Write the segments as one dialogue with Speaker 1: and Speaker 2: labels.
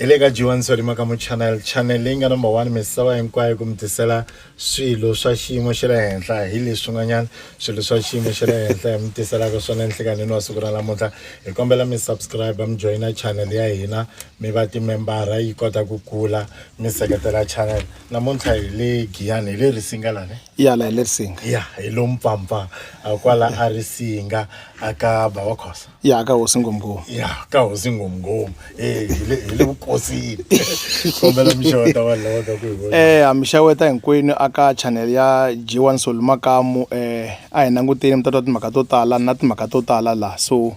Speaker 1: hi le ka jiwani solima ka muchannel channel leyi nga number one misava hinkwayo ku mi tisela swilo swa xiyimo xa le henhla hi leswi n'wanyana swilo swa xiyimo xa le henhla hi mi tiselaka swona nhlikanini wa siku ra namuntlha hi kombela mi subscribe mi joyina channel ya hina mi va timembara yi kota ku kula mi seketela channel namuntlha hi le giyani hi le risinga lani iyana hi le risinga
Speaker 2: ya hi lo mpfampfa
Speaker 1: kwala a risinga aka bava khosa ya aka hosi ngomngomu
Speaker 2: ya ka hosi
Speaker 1: ngomngomu eh, hi le hi le vukosini kombela mixeweta vanhu lava ka ku hi vona eh hamixaweta hinkwenu
Speaker 2: aka channel ya G1 Solumakamu eh a hi languteni mi ta twa timhaka to tala na timhaka to tala la so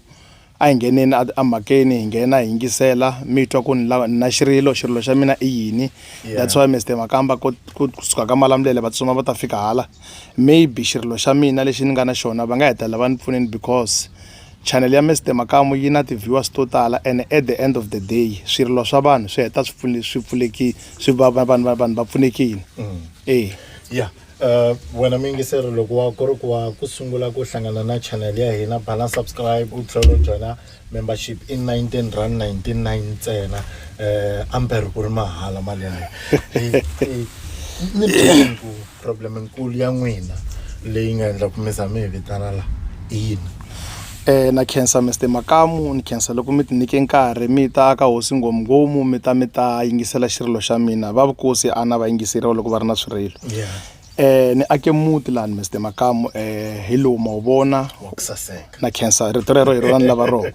Speaker 2: A hi ngheneni a a mhakeni hi nghena hi yingisela mi twa ku ni lava ni na xirilo xirilo xa mina i yini that's why Mister Makamba ku ku kusuka ka Malamulele va tsutsuma va ta fika hala maybe xirilo xa mina lexi ni nga na xona va nga hetelela va ni pfuneni because channel ya Mister Makamu yi na ti-viewers to tala and at the end of the day swirilo swa vanhu swi heta swi pfule swi pfuleki swi va va vanhu va vanhu va pfunekini e.
Speaker 1: Uh, wena muyingiseri loko wa ku ri ku wa ku sungula ku hlangana na channel ya hina bana subscribe u tlhela u joyina membership i 19 rand 99 ntsena um amber ku ri mahala mali ya ni ku problem nkulu ya n'wina leyi nga endla ku mi za mi hi vitana laha i yini Na
Speaker 2: khensa Mister Makamu ni khensa loko mi tinike nkarhi mi ta ka hosi Nghomunghomu mi ta mi ta yingisela xirilo xa mina va vukosi a na va yingiseriwa loko va ri na swirilo ni ake muti lani Mister Makamu hi lowu ma wu vona
Speaker 1: na khensa rito rero
Speaker 2: hi rona ni lava rona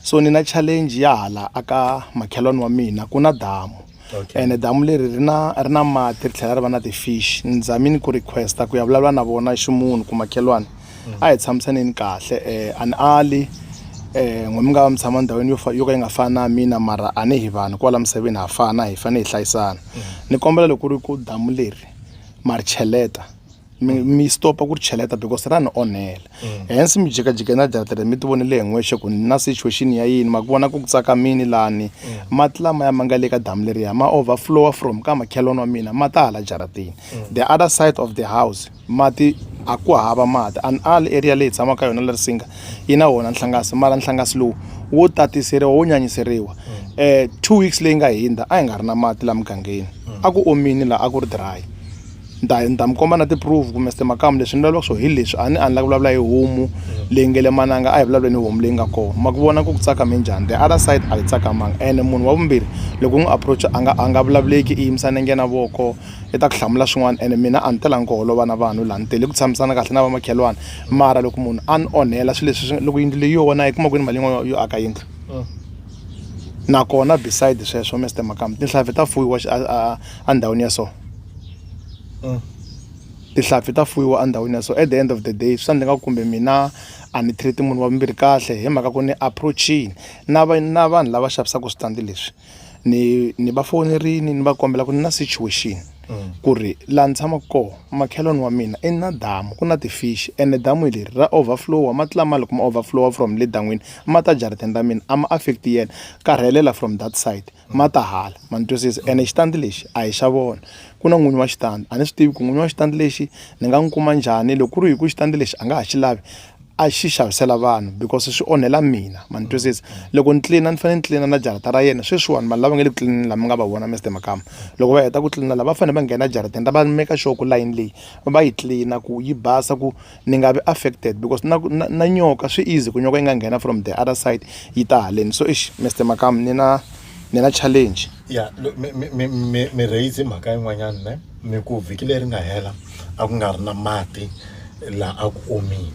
Speaker 2: so ni na challenge ya hala aka makhelwani wa mina ku na damu okay. ene damu leri ri na ri na mati ri tlhela ri va na ti-fish ni zamini ku requesta ku ya vulavula na vona ximunhu ku makhelwani mm. a hi tshamisaneni kahle um an ali um n'we mi nga va mi tshama ndhawini yo yo ka yi nga fani na mina mara a ni hi vanhu kwala misaveni ha fana hi fanele hi hlayisana mm. ni kombela loko ri ku damu leri ma ri cheleta mi mi stopa ku ri cheleta because ra ni onhela hence mi jikajike na datere mi ti vonele hi n'wexe ku ni na situation ya yini ma ku vona ku ku tsakamini lani mati lamaya ma nga le ka damu leriya ma overflowa from ka makhelwani wa mina ma ta hala jaratini the other side of the house mati a ku hava mati and all area leyi tshamaka ka yona la risinga yi na wona nhlangasi mara nhlangasi lowu wo tatiseriwa wo nyanyiseriwa um two weeks leyi nga hindza a hi nga ri na mati la mugangeni a ku omini laha a ku ri dry Ni ta ni ta mi komba na ti-proof ku Mister Makamu leswi ni vulavulaka swo hi leswi a ni a ni la ku vulavula hi homu leyi nge le mananga a hi vulavuleni hi homu leyi nga kona ma ku vona ku ku tsakame njhani the other side a yi tsakamanga ene munhu wa vumbirhi loko u n'wi approach a nga a nga vulavuleki i yimisa nenge na voko i ta ku hlamula swin'wana ene mina a ni telangi ku holova na vanhu laha ni tele ku tshamisana kahle na vamakhelwani mara loko munhu a ni onhela swilo leswi swi loko yindlu leyi yo wona a yi kuma kwini mali yin'wana yo aka yindlu nakona beside sweswo Mister Makamu tinhlampfi ta fuyiwa a a endhawini ya so tihlampfi ta fuyiwa endhawini ya so at the end of the day swi ta endla ingaku kumbe mina a ni treat-i munhu wa vumbirhi kahle hi mhaka ku ni approach-ini na va na vanhu lava xavisaka switandi leswi ni ni va fonerini ni va kombela ku ni na situation ku ri laha ni tshamaka kona makhelwani wa mina i na damu ku na ti-fish ene damu hi leri ra over flow-a mati lama loko ma over flow-a from le dan'wini ma ta jarateni ra mina a ma affect yena ka rhelela from that side. ma ta hala ma ni twisisa ene xitandi lexi a hi xa vona ku na n'winyi wa xitandi a ni swi tivi ku n'winyi wa xitandi lexi ni nga n'wi kuma njhani loko ku ri hi ku xitandi lexi a nga ha xi lavi a xi xavisela vanhu because swi onhela mina ma ni twisisa loko ni tlilina ni fanele ni tlilina na jarata ra yena sweswiwani vanhu lava nga le ku tlilinini lama nga va vona mr makama loko va heta ku tlilina lava va fanele va nghena ejarateni ra va meka sure ku layini leyi va yi tlilina ku yi basa ku ni nga vi affected because na na na nyoka swi easy ku nyoka yi nga nghena from the other side yi ta haleni so exi Mister Makamu ni na ni na challenge ya mi mi mi
Speaker 1: mi mi raise mhaka yin'wanyana ne mi ku vhiki leri nga hela a ku nga ri na mati laha a ku omile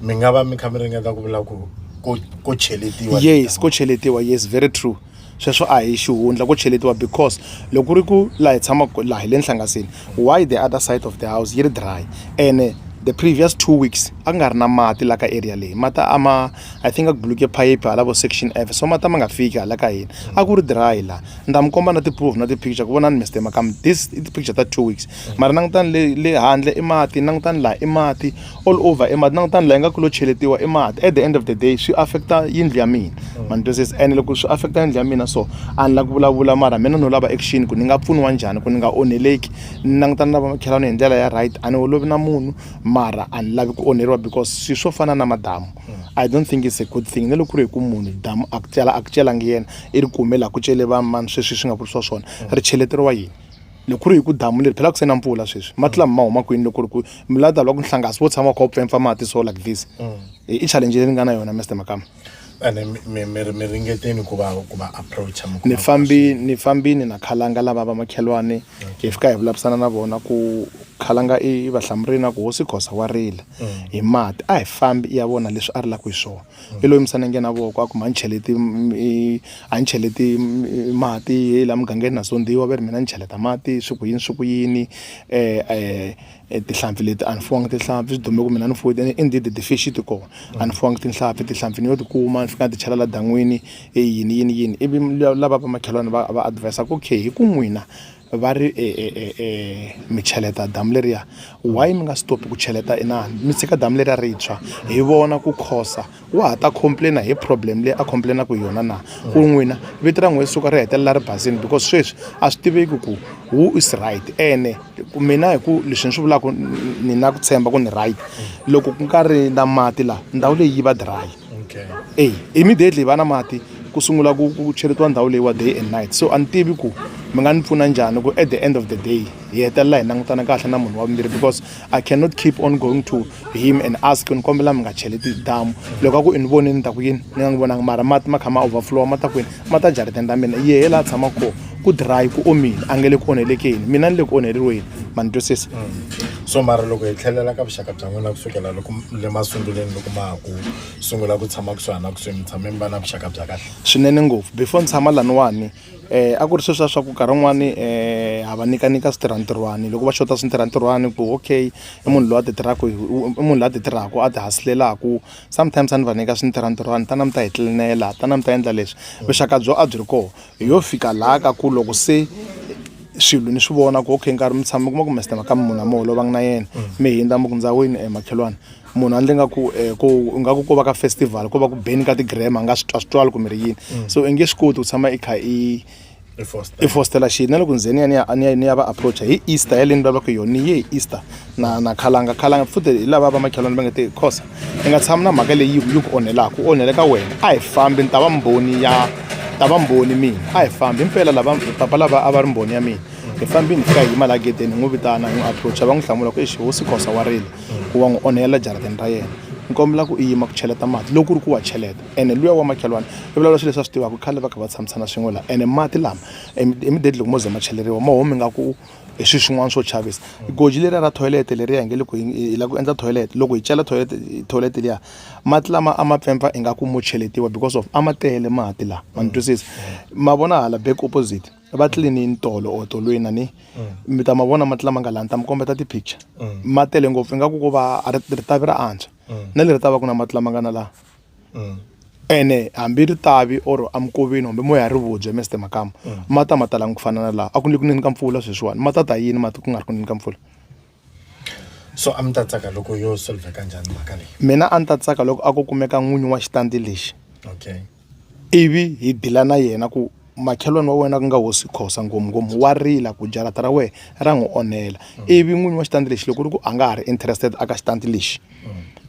Speaker 1: mi nga va mi kha mi ringeta ku vula ku ko ko cheletiwa yes ko cheletiwa
Speaker 2: yes very true sweswo a hi xihundla ko cheletiwa because loko ku ri ku laha hi tshamaka laha hi le nhlangasini why the other side of the house yi ri dry ene the previous two weeks a ku nga ri na mati laha ka area leyi mati a ma i think a ku buluke phayiphi hala vo section F so mati a ma nga fiki hala ka hina a ku ri dry laha ni ta mi komba na ti-proof na ti-picture ku vonani Mister Makamu this i ti-picture ta two weeks mara langutani le le handle i mati langutani laha i mati. all over e mati langutani laha yi nga ku lo cheletiwa i mati at the end of the day swi affecta yindlu ya mina ma ni twisisa ene loko swi affecta yindlu ya mina so a ni la ku vulavula mara mina no lava action ku ni nga pfuniwa njhani ku ni nga onheleki ni langutana na vamakhelwani hi ndlela ya right a ni holovi na munhu mara a ni lavi ku onheriwa because swilo swo fana na madamu i don't think it's a good thing na loko ku ri hi ku munhu damu a ku cela a ku celangi yena i ri kume laha ku cele va mani sweswi swi nga vurisiwa swona ri cheleteriwa yini loko ku ri hi ku damu leri phela ku se na mpfula sweswi mati lama ma huma kwini loko ri ku milata loko nhlangasi wo tshama kha wu pfempfa mati so like this mm. i challenge leyi ni nga na yona mr makama ene
Speaker 1: mi ringeteni ku va ku va approacha ni fambi ni
Speaker 2: fambini na khalanga lava va makhelwani hi fika hi vulavisana na vona ku khalanga i vahlamurina ku hosi khosa wa rila mm. hi mati a hi fambi ya vona leswi a ri la ku hi swona i lo yimisa nenge na voko a ku mhani cheleti a ni cheleti mati hi laha mugangeni na zondhiwa va ri mina ni cheleta mati swi ku yini swi ku yini tihlampfi leti a ni fuwangi tihlampfi swi dume ku mina ni fuwile i did ti fish ti kona a ni fuwangi tihlampfi tihlampfi ni yo ti kuma ni fika ni ti chela la dan'wini i yini yini yini ivi lava va makhelwani va va advis-a ku okay hi ku n'wina. va ri e, e, e, e, mi cheleta damu leriya why mi nga stopi ku cheleta inani mi tshika damu leriya ri tshwa hi vona ku khosa wa ha ta complaina hi problem leyi a complainaka hi yona na ku n'wina vito ra n'we suka ri hetelela ri basini because sweswi a swi tiveki ku who is right ene mina hi ku leswi ni swi vulaka ni na ku tshemba ku ni right loko ku nga ri na mati laha ndhawu leyi yi va dry okay. ey immediately va na mati ku sungula ku ku cheletiwa ndhawu leyiwa day and night so a ni tivi ku mi nga ni pfuna njhani ku at the end of the day hi hetelela hi langutana kahle na munhu wa vumbirhi because i cannot keep on going to him and ask ni kombela mi nga cheleti damu loko a ku i ni voni ni ta ku yini ni nga n'wi vonanga mara mati ma kha ma overflowa ma ta kwini ma ta jarideni ra mina yehe laha tshama kona ku dry ku omile a nge le ku onhelekeni mina ni le ku onheleriweni ma ni twisisa so mara
Speaker 1: loko hi tlhelela ka vuxaka bya n'wina kusukela loko le masunguleni loko ma ha ku sungula ku tshama kusuhani na kusuhi mi tshame mi va na vuxaka bya kahle swinene ngopfu before
Speaker 2: ni tshama laniwani eh a ku ri sweswiya swa ku nkarhi wun'wani eh ha va nyika nyika switirhantirhwani loko va xota switirhantirhwani ku okay i munhu loyi a ti tirhaka i munhu loyi a ti tirhaka a ti hasilelaku sometimes a ni va nyika swi ni tirha ntirho wa ni tana mi ta hi tlinela tana mi ta endla leswi vuxaka byo a byi ri kona hi yo fika laha ka ku loko se swilo ni swi vona ku okay nkarhi mi tshama mi kuma ku mester maka munhu a mi holovanga na yena mi hindza mi ku ndzawini um makhelwana munhu andle nga ku um ku ingaku ko va ka festival ko va ku beni ka ti-gram a nga swi twa swi twali kumbe ri yini so i nge swi koti ku tshama i kha i i fostela xi na loko ndzeni ya ni ya ni ya ni ya va approacha hi easter ya leni va va ku yona ni ye hi easter na na khalanga khalanga futhi hi lava va makhelwani va nge te khosa i nga tshami na mhaka leyi yi ku onhelaka u onhele ka wena a hi fambi ni ta va mbhoni ya ta va mbhoni mina a hi fambi himpela lava papa lava a va ri mbhoni ya mina hi fambi ni fika hi yima laha gedeni hi n'wi vitana hi n'wi approacha va n'wi hlamula ku exi hosi khosa wa rila ku wa n'wi onhela jarateni ra yena ni kombela ku i yima ku cheleta mati loko ku ri ku wa cheleta ene luya wa makhelwani i vulavula swilo leswi a swi tivaka khale va kha va tshamisana swin'we laha ene mati lama immediately loko mo ze ma cheleriwa ma humi nga ku hi swilo swin'wana swo chavisa goji leriya ra toilet leriya hi nge loko hi lava ku endla toilet loko hi chela toilet toilet liya mati lama a ma pfempfa ingaku mo cheletiwa because of a ma tele mati lawa ma ni twisisa ma vona hala back opposite va tlilinini tolo or tolweni a ni mi ta ma vona mati lama nga laha ni ta mi kombeta ti-picture ma tele ngopfu ingaku ko va ritavi ra antswa na leri ta va ku na mati lama nga na laha mm. ene hambi ri tavi or amkoveni hambi moya ri vubye mester makama mm. ma ta ma talangi ku fana na laha a ku ni ku nini ka mpfula sweswiwani ma ta ta yini mati ku nga ri ku nini ka mpfula
Speaker 1: so a mi ta tsaka loko yo solveka njhani mhaka leyi mina a ni ta tsaka loko
Speaker 2: a ku kumeka n'winyi wa xitandi lexi okay
Speaker 1: ivi
Speaker 2: hi dila na yena ku makhelwani wa wena ku nga hosi khosa ngomungoma wa rila ku jarata ra wena ra n'wi onhela ivi n'winyi wa xitandi lexi loko ri ku a nga ha ri interested aka xitandi lexi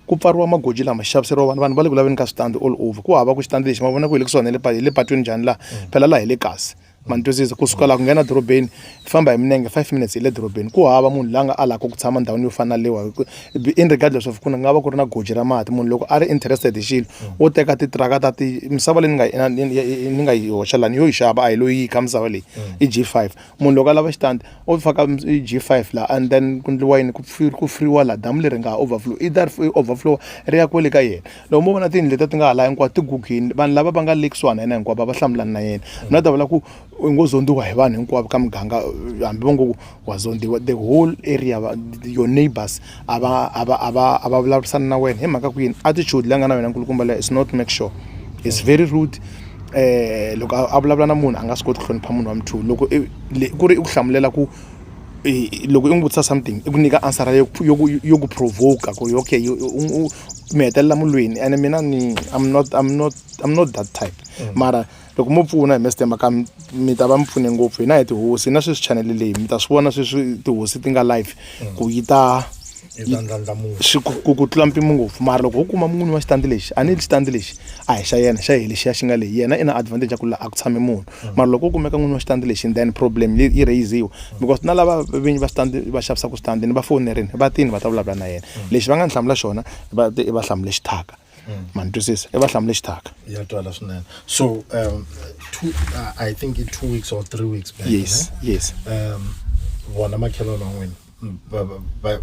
Speaker 2: ku pfariwa magoji lama xaviseriwa vanhu vanhu va le ku laveni ka switandi all over ku hava ku xitandi lexi ma vona ku hi le kusuhani hi le patwini njhani laha phela laha hi le kasi ma ni twisisa kusuka laha ku nghena dorobeni hi famba hi minenge five minutes hi le dorobeni ku hava munhu la nga a lava ku tshama ndhawini yo fana lewa in regardless of ku nga va ku ri na goji ra mati munhu loko a ri interested hi xilo wo teka titiraka ta ti misava leyi ni nga ni nga yi hoxa lani yo yi xava a hi loyi yi kha misava leyi i g five munhu loko a lava xitandi o faka i g five laha and then ku ndliwa yini ku ku furiwa laha damu leri nga ha overflow i that overflow ri ya kwele ka yena loko mo vona tiyindlu leti ti nga ha laha hinkwato ti gugile vanhu lava va nga le kusuhana yena hinkwavo va hlamulana na yena na ta vula ku u ngo zondziwa hi vanhu hinkwavo ka muganga hambi va ngo ku wa zondziwa the whole area va your neighbours a va a va a va a va vulavurisana na wena hi mhaka ku yini attitude leyi nga na wena nkulukumba leyi is not make sure is very rude um loko a vulavula na munhu a nga swi koti ku hlonipha munhu wa mu two loko ku ri i ku hlamulela ku loko i n'wi vutisa something i ku nyika answer yo yo ku yo ku provoke ku ri okay mi hetelela mulwini ene mina ni I'm not I'm not I'm not that type mara. loko mo pfuna hi mestemba ka mi ta va mi pfune ngopfu hina hi tihosi na sweswi chanele leyi mi ta swi vona sweswi tihosi ti nga live ku yi ta ku ku tlula mpimo ngopfu mara loko ho kuma mun'wini wa xitandi lexi a ni li xitandi lexi a hi xa yena xa hi lexiya xi nga leyi yena i na advantage ya ku laha a ku tshame munhu mara loko u kumeka n'wini wa xitandi lexi then problem yi raiziwa because na lava vinyi va xitandi va xavisaka switandi ni va fonerini va tini va ta vulavula na yena lexi va nga ni hlamula xona va te i va hlamule xithaka mm. ma ni twisisa i va hlamule xithaka ya twala
Speaker 1: swinene so um, two, uh, i think i two weeks or three weeks back yes ne? yes um vona makhelwana wan'wini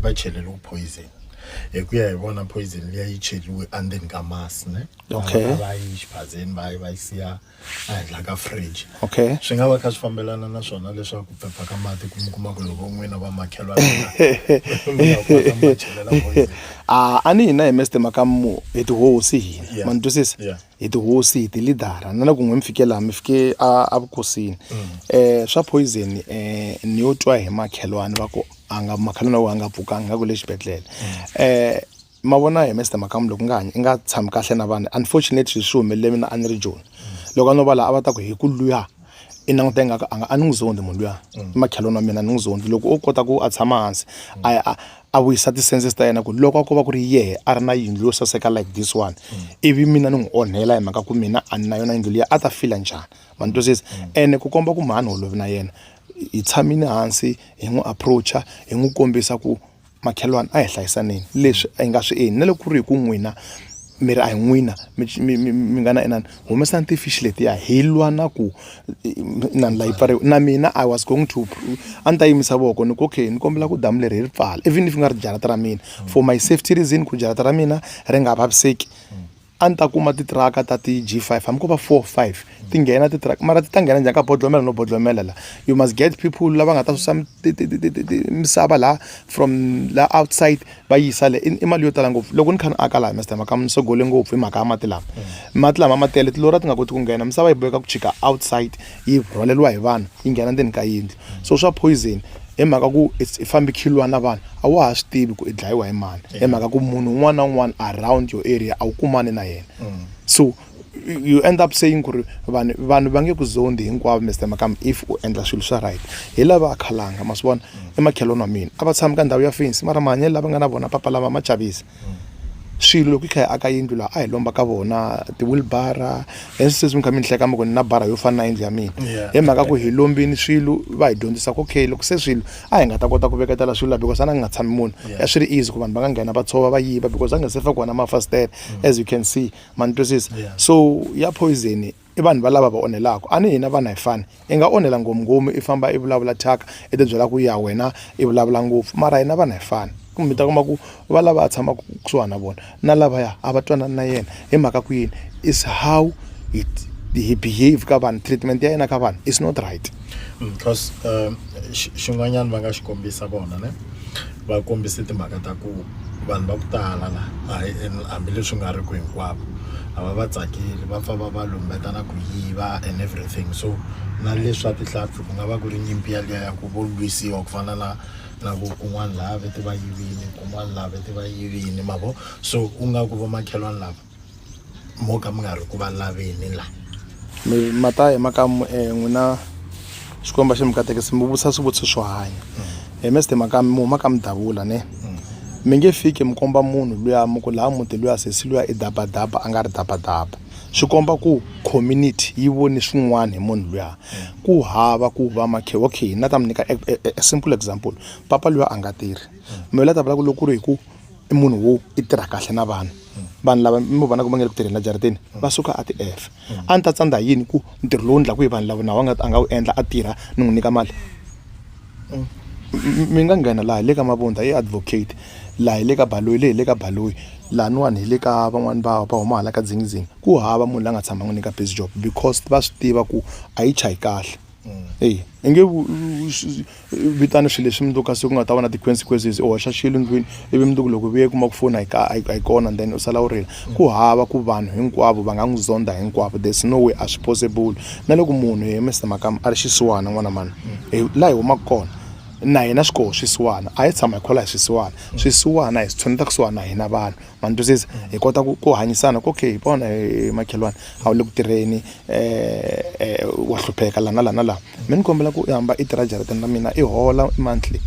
Speaker 1: va chelele ku poison hi ku ya hi vona poison liya yi cheliwe endzeni ka masi ne okay va yi xiphazeni va yi va yi siya ehenhla ka fridge okay swi nga va kha swi fambelana na swona leswaku pepa ka mati ku mi kuma ku loko n'wina va makhelwa
Speaker 2: a a ni hina hi meste makamu hi tihosi hina ma ni twisisa hi tihosi hi tilidara na na ku n'we mi fike laha mi fike a a vukosini um swa poison um eh, ni yo twa hi makhelwani va ku a nga makhelwani wa ku a nga pfukanga nga ku le xibedhlele um ma vona hi Mister Makamu loko nga i nga tshami kahle na vanhu unfortunately swi humelele mina a ni ri joni loko a no va laha a va ta ku hi ku luya i languta ingaku a nga a ni n'wi zondhi munhu luya mm. i makhelwani wa mina a ni n'wi zondhi loko o kota ku a tshama hansi a a a vuyisa ti-senses ta yena ku loko a ko va ku ri yehe a ri na yindlu yo saseka like this one mm. ivi mina ni n'wi onhela hi mhaka ku mina a ni na yona yindlu liya a ta fila njhani ma ni twisisa mm. ene ku komba ku mhani holovi na yena hi tshamile hansi hi n'wi approacha hi n'wi kombisa ku makhelwani a hi hlayisaneni leswi hi nga swi endli na loko ku ri hi ku n'wina mi ri a hi n'wina mi mi mi mi nga na inani humesani ti-fish letiya hi lwa na ku inani laha yi pfariwa na mina I was going to a ni ta yimisa voko ni ku okay ni kombela ku damu leri hi ri pfala even if ku nga ri jarata ra mina for my safety reason ku jarata ra mina ri nga vaviseki. a ni ta kuma titiraka ta ti g five hambi ko va four five ti nghena titiraka mara ti ta nghena njhani ka bodlomela no bodlomela la you must get people lava nga ta susa misava laha from la outside va yisa le i mali yo tala ngopfu loko ni kha ni aka laha mister mhaka ni sogole ngopfu hi mhaka ya mati lama mati lama ma tele tilori a ti nga koti ku nghena misava yi boheka ku chika outside yi rhwaleriwa hi vanhu yi nghena ndzeni ka yindlu. so swa poison hi mhaka ku i fambi khilwa na vanhu a wa ha swi tivi ku i dlayiwa hi mani hi mhaka ku munhu un'wana na un'wana around your area a wu kumani na yena mm. so you end up saying ku ri vanhu vanhu va nge ku zondi hinkwavo mr makam if u endla swilo swa right hi lava a khalanga ma swi vona mm. i makhelwani wa mina a va tshami ka ndhawu ya fensi mara mahanyelo lava nga na vona papa lama ma chavisa swilo loko hi kha hi aka yindlu laha a hi lomba ka vona ti-wilbara and sweswi mi kha mi ni hleka mi ku ni na bara yo fana na yindlu ya mina hi mhaka ku hi lombini swilo va hi dyondzisa ku okay loko se swilo a hi nga ta kota ku veketela swilo laha because a na nga tshami munhu a swi ri easy ku vanhu va nga nghena va tshova va yiva because a nga se fa kona mafasitele as you can see ma ni twisisa so ya poison i vanhu va lava va onhelaka a ni hina vana hi fani i nga onhela ngomunghomu i famba i vulavula thyaka i tibyela ku ya wena i vulavula ngopfu mara hina vana hi fani mi ta kuma ku va lava a tshamaka kusuhani na vona na lavaya a va twanani na yena hi mhaka ku yini is how hi hi behave ka vanhu treatment ya yena ka vanhu is not right. because
Speaker 1: xin'wanyana va nga xi kombisa vona ne va kombise timhaka ta ku vanhu va ku tala la hayi hambileswi nga ri ku hinkwavo a va va tsakeli va pfa va va lumbeta na ku yiva and everything so na leswa tihlampfi ku nga va ku ri nyimpi yaliya ya ku vo lwisiwa ku fana na na ku kun'wana laha vete va yivini kun'wana laha vete va yivini ma vo so u nga ku vomakhelwani lava mo ka mi nga ri ku va laveni la mi ma ta
Speaker 2: hi maka n'wina xikwembu a xi mi katekisi mi vutisa swivutiso swo hanya hi meste maka mi huma ka mudavula ne mi nge fiki mi komba munhu luya mi ku laha muti luya sesi luya i dabadaba a nga ri dabadaba swi komba ku community yi voni swin'wana hi munhu luya ku hava ku va makhe okay na ta mi nyika a simple example papa luya a nga tirhi mi la ta vula ku loko ku ri hi ku i munhu wo i tirha kahle na vanhu vanhu lava mi mu vonaka va nge le ku tirheni la jarideni va suka a ti efe a ni ta tsandza hi yini ku ntirho lowu ndlaku hi vanhu lava nawu a nga a nga wu endla a tirha ni n'wi nyika mali mi nga nghena laha hi le ka mavundza i advocate laha hi le ka baloyi leyi hi le ka baloyi lahawani hi le ka van'wani va va huma hala ka dzingizingi ku hava munhu la nga tshama n'wi nyika biz job because va swi tiva ku a yi chayi kahle. eyi i nge vitana swilo leswi mundzuku ka siku u nga ta va na ti-consequences u hoxa xilo ndlwini ivi mundzuku loko vuye kuma ku foni a yi ka a yi kona then u sala u rila ku hava ku vanhu hinkwavo va nga n'wi zonda hinkwavo there's no way a swi possible na loko munhu hi Mister Makamu a ri xisiwana n'wana mani hi laha hi humaka kona na hina swi koho swisiwana a hi tshama hi khola hi swisiwana swisiwana hi swi tshuneta kusuhana na hina vanhu. ma ni twisisa hi kota ku ku hanyisana ku okay hi vona hi makhelwani a wu le ku tirheni um wa hlupheka laha na laha na laha mi ni kombela ku i hamba i tirha jarateni ra mina i hola monthly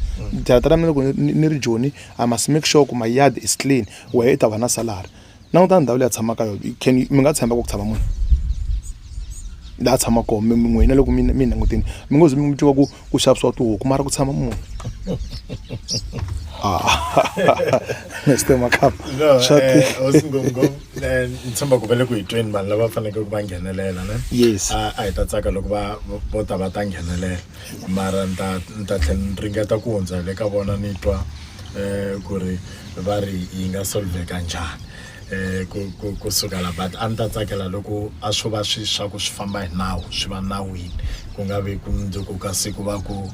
Speaker 2: jarata ra mina loko ni ni ri joni i must make sure ku my yard is clean wehe i ta va na salary langutana ndhawu leyi a tshamaka yona can mi nga tshemba ku ku tshama munhu laha a tshamaka kona mi n'wina loko mi mi langutini mi ngo ze mi mu twa ku ku xavisiwa tihuku mara ku tshama munhu Mr. Makap. No, eh, eh,
Speaker 1: ni tshemba ku va le ku hi tweni vanhu lava fanekele ku va nghenelela ne yes a a hi ta
Speaker 2: tsaka loko
Speaker 1: va vo ta va ta nghenelela mara ni ta ni ta tlhela ni ringeta ku hundza le ka vona ni twa um ku ri va ri yi nga solveka njhani eh, ku, ku, ku suka la but a ni ta tsakela loko a swo va swi swa ku swi famba hi nawu swi va nawini ku nga vi ku mundzuku ka siku va ku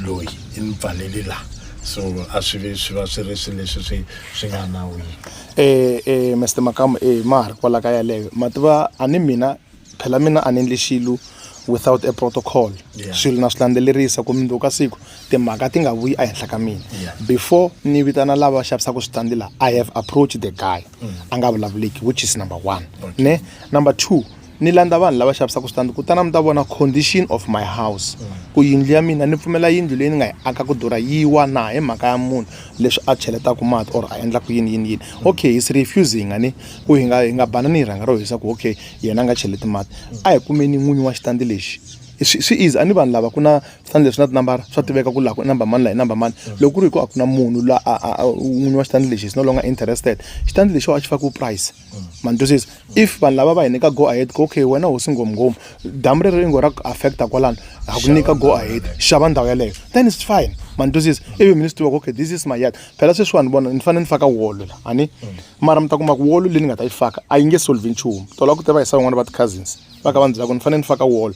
Speaker 1: loyi i ni pfaleli la so a swi vi swi va swi ri swi leswi swi swi nga nawini eh eh Mr Makamu
Speaker 2: eh ma ha ri kwala ka yaleyo ma tiva a ni mina phela mina a ni endli xilo without a protocol yeah. swilo na swi landzelerisa ku mundzuku ka siku timhaka ti nga vuyi ehenhla ka mina yeah. before ni vitana lava xavisaka switandi laha i have approached the guy mm. a nga vulavuleki which is number one okay. ne number two ni landza vanhu lava xavisaka switandi kutana mi ta vona condition of my house mm. ku yindlu ya mina ni pfumela yindlu leyi ni nga yi aka ku durha yi wa na hi mhaka ya munhu leswi a cheletaka mati or a endlaka yini yini yini mm. okay his refusing ani ku hi nga hi nga banani hi rhanga ro hisa ku okay yena a nga cheleti mati a hi kumeni n'winyi wa xitandi lexi swi swi easy a ni vanhu lava ku na switandi leswi na tinambara swa tiveka ku laha ku i number mani laha i number mani loko ku ri hi ku a ku na munhu la a a n'winyi wa xitandi lexi is no longer interested xitandi lexi a xi fakiwe price ma ni twisisa if vanhu lava va hi nyika go ahead ku okay wena hosi ngomngom damu rero i ngo ra ku affecta kwalano ha ku nyika go ahead xava ndhawu yeleyo then it's fine ma ni twisisa ivi mi ni swi tiva ku okay this is my yard phela sweswiwani vona ni fanele ni faka wolo la a ni mara mi ta kuma ku wolo leyi ni nga ta yi faka a yi nge solve nchumu tola ku tiva hi sa van'wana va ti-cousins va ka va ni byela ku ni fanele ni faka wolo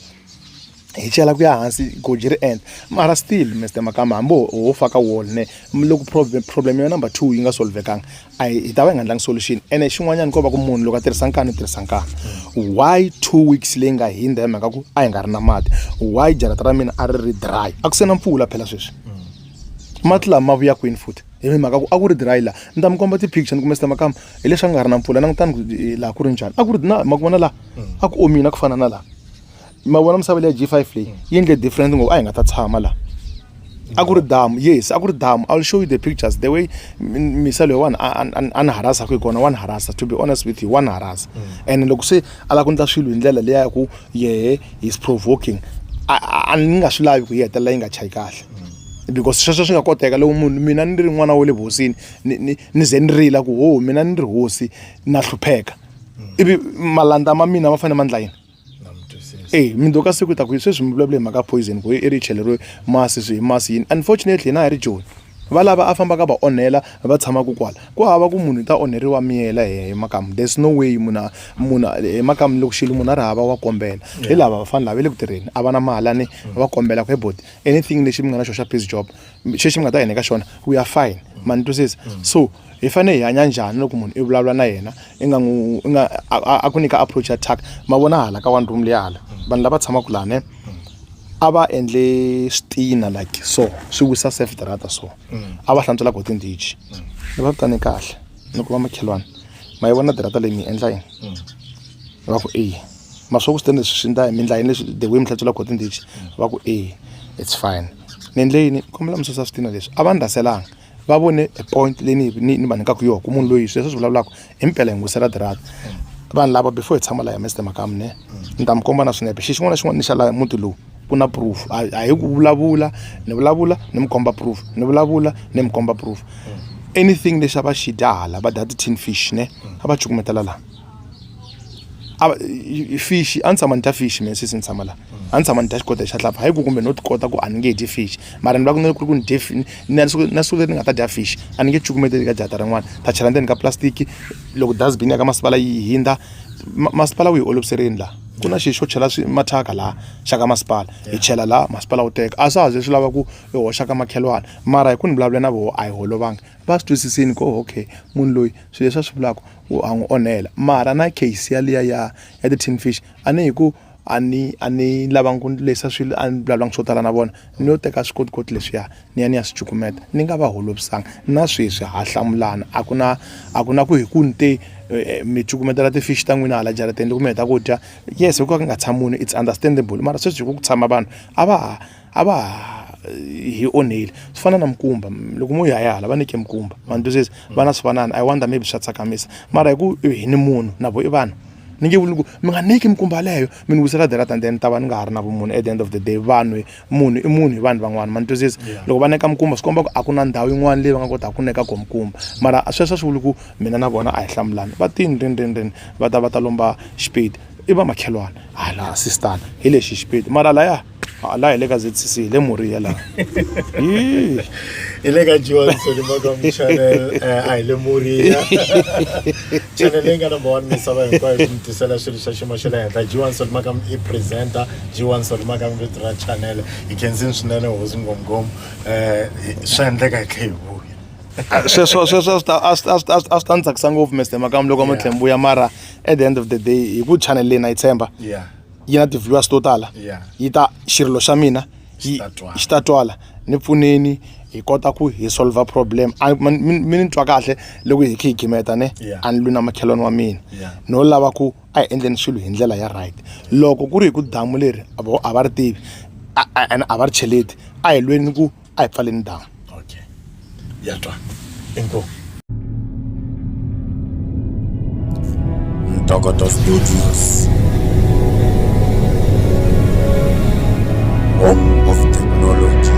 Speaker 2: hi chela ku ya hansi goji ri endla mara still mr makamba hambi ho faka wall ne loko problem problem ya number two yi nga solvekanga a hi ta va hi nga ndlangi solution ene xin'wanyana ko va ku munhu loko a tirhisa nkani u tirhisa nkani why two weeks leyi nga hindza hi mhaka ku a hi nga ri na mati why jarata ra mina a ri ri dry a ku se na mpfula phela sweswi mati lama ma vuya kwini futhi hi ri mhaka ku a ku ri dry laha ni ta mi komba ti-picture ni kumbe sita makama hi leswi a nga ri na mpfula langutani ku eh, laha ku ri njhani a ku ri na ma ku vona laha a ku omini a ku fana na laha ma vona misava leya g five leyi yi endle different ngopfu a hi nga ta tshama laha a ku ri damu yes a ku ri damu iwill show you the pictures the way m- misa loyi wani a- a- a ni harasa ku hi kona wa ni harasa to be honest with you wa ni harasa and loko se a lava ku endla swilo hi ndlela leya ya ku yehe he's provoking a- a a ni nga swi lavi ku yi hetelela yi nga chayi kahle because sweswo swi nga koteka loko munhu mina ni ri n'wana wa le vuhosini ni ni ni ze ni rila ku ho mina ni ri hosi na hlupheka ivi malandza ma mina ma fanele ma ndla yini e mindzoko ka siku ta ku sweswi mi vulavula hi mhaka poison ku i ri cheleriwe masi swi hi masi yini unfortunately hina hi ri joni va lava a fambaka va onhela va tshamaka kwala ku hava ku munhu i ta onheriwa miyela hi makamu there's no way munhu munhu hi makamu loko xilo munhu a ri hava wa kombela hi lava vafana lava va le ku tirheni a va na mahalani va kombela ku he boti anything lexi mi nga na xona xa peace job xexi mi nga ta yena eka xona we are fine ma ni twisisa mm. so hi fanele hi hanya njhani loko munhu i vulavula na yena i nga n'wi i nga a ku nyika approach ya tak ma vona hala ka one room leyi hala mm. vanhu lava tshamaka laha ne mm. a va endle switina like so swi wisa safe darata so a va hlantswela go tindichi ni va vitane kahle ni ku va makhelwana ma yi vona darata leyi mi endla yini va ku eyi ma swi vona ku swi ta leswi swi endla hi mi endla yini leswi the way mi hlantswela khotini lexi va ku e it's fine ni endle yini kombela mi susa switina leswi a va ni rhaselanga va vone a point leyi ni ni ni va nyikaka yona ku munhu loyi sweswi swi vulavulaka hi mpela hi n'wisa ra dirata vanhu lava before hi tshama laha mste makamu ne ni ta mi komba na swinepe xi xin'wana na xin'wana ni xa laha muti lowu ku na proof a a hi ku vulavula ni vulavula ni mi komba proof ni vulavula ni mi komba proof anything lexi a va xi dya hala va dya ti-tin fish ne a va cukumetela laha a fish a ni tshama ni dya fish mina sesi ni tshama la a ni tshama ni dya xikota xa hlapha hayi ku kumbe no ti kota ku a ni nge dyi fish mara ni va ku ni ku ri ku ni dye na siku na siku leri ni nga ta dya fish a ni nge cukumeteli ka jahata rin'wana ni ta chela ndzeni ka plastic loko dustbin ya ka masipala yi hundza masipala wu hi oloviserile laha ku na xilo xo chela swi mathyaka laha xa ka masipala hi chela laha masipala wu teka a swa ha ze swi lava ku hi hoxa ka makhelwani mara hi ku ni vulavula na voho a hi holovanga va swi twisisini ku okay munhu loyi swilo leswi a swi vulaka u a n'wi onhela mara na case yaliya ya ya ti-tin fish a ni hi ku a ni a ni lavangi ku lehisa swilo a ni vulavulangi swo tala na vona ni yo teka swikotikoti leswiya ni ya ni ya swi cukumeta ni nga va holovisanga na sweswi ha hlamulana a ku na a ku na ku hi ku ni te eh, mi cukumetela ti-fish ta n'wina hala jarateni loko mi heta ku dya yes hi ku ka ku nga tshami munhu it's understandable mara sweswi hi ku ku tshama vanhu a va ha a va hi onheli swi fana na mikumba loko mo ya hala va nike mikumba vanhu twisisi vana swi fanana i wonder maybe swa tsakamisa mara hi ku hi ni munhu na vo i vanhu ni nge vuli ku mi nga niki mikumba leyo mi ni wisela dela than then ta va ni nga ha ri na vumunhu at the end of the day vanhu munhu i munhu hi vanhu van'wana ma ni twisisa loko va neka mikumba swi komba ku a ku na ndhawu yin'wana leyi va nga kotaka ku neka ko mikumba mara sweswo swi vuli ku mina na vona a hi hlamulani va tini rini rini rini va ta va ta lomba xipedi i va makhelwani hala sistana hi lexi xipedi mara laya hala hi le ka zcc hi le moriya laha hi
Speaker 1: le ka johnson makamu channel eh, a hi le moriya channel leyi nga number one misava hinkwayo ku mi tisela swilo swa xiyimo xa le henhla johnson makamu i presenter johnson makamu vito ra channel hi khensini swinene hosi ngomngom um swa endleka hi tlhe hi vuya sweswo sweswo
Speaker 2: a swi ta ni tsakisa ngopfu mr makamu loko mo tlhe mbuya mara at the end of the day hi ku channel leyi na yi tshemba yeah yi na ti-viewers to tala Yeah. yi ta xirilo xa mina yi ta twala. xi ta twala ni pfuneni hi kota ku hi solver problem A- man- mi mi ni twa kahle loko hi khe hi gimeta ne Yeah. a ni lwi na makhelwani wa mina Yeah. no lava ku a hi endleni swilo hi ndlela ya right loko ku ri hi ku damu leri a vo- a va ri tivi a- a- and a va ri cheleti a hi lweni ku a hi pfaleni damu okay
Speaker 1: ya twa inkomu Ntokoto Studios. Home of technology.